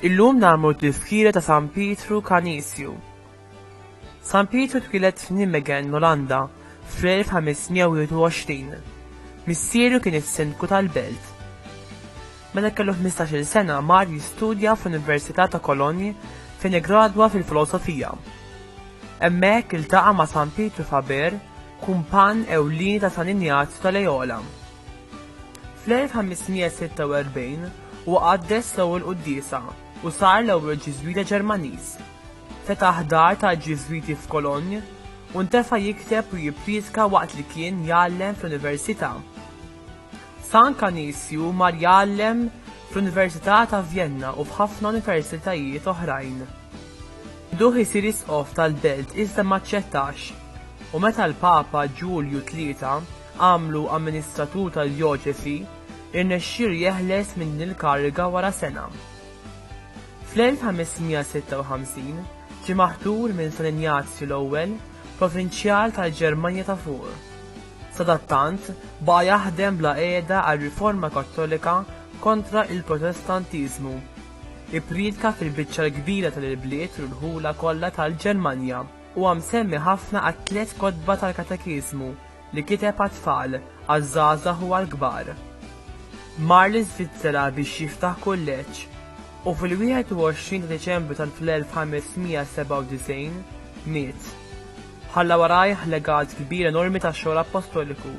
Illum nagħmlu t-tifkira ta' San Pietru Kanisju. San Pietru twilet f'Nimegen, Olanda, fl-1521. Missieru kien is-sindku tal-belt. Meta kellu ħmistax-il sena mar jistudja fl-Università ta' Cologne fejn iggradwa fil-Filosofija. Hemmhekk iltaqa' ma' San Pietru Faber, kumpann ewlieni ta' San Injazju ta' Lejola. Fl-1546 huwa qaddes l-ewwel quddiesa u sar l-ewwel Ġiżwita Ġermaniż. Fetaħ dar tal-Ġiżwiti f'Cologne u ntefa' jikteb u jipprietka waqt li kien jgħallem fl-Università. San Kanisju mar jgħallem fl-Università ta' Vjenna u f'ħafna universitajiet oħrajn. Bduh isir isqof tal-belt iżda ma aċċettax, u meta l-Papa Ġulju Tlieta għamlu amministratur tad-djoċesi, irnexxielu jeħles minn din il-kariga wara sena. Fl-1556 ġie maħtur minn San Injazju l-Ewwel, provinċjal tal-Ġermanja ta' Fuq. Sadattant, baqa' jaħdem bla qiegħda għar-Riforma Kattolika kontra l-Protestantiżmu. Ippriedka fil-biċċa l-kbira tal-ibliet u l-ħula kollha tal-Ġermanja. Huwa msemmi ħafna għat-tliet kotba tal-katekiżmu li kiteb għat-tfal, għaż-żgħażagħ u għall-kbar. Mar l-Iżvizzera biex jiftaħ kulleġġ, u fil-21 ta' Diċembru tal-1597 miet. Ħalla warajh legat kbir enormi ta' xogħol appostoliku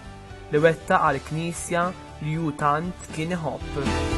li wettaq għall-Knisja li hu tant kien iħobb.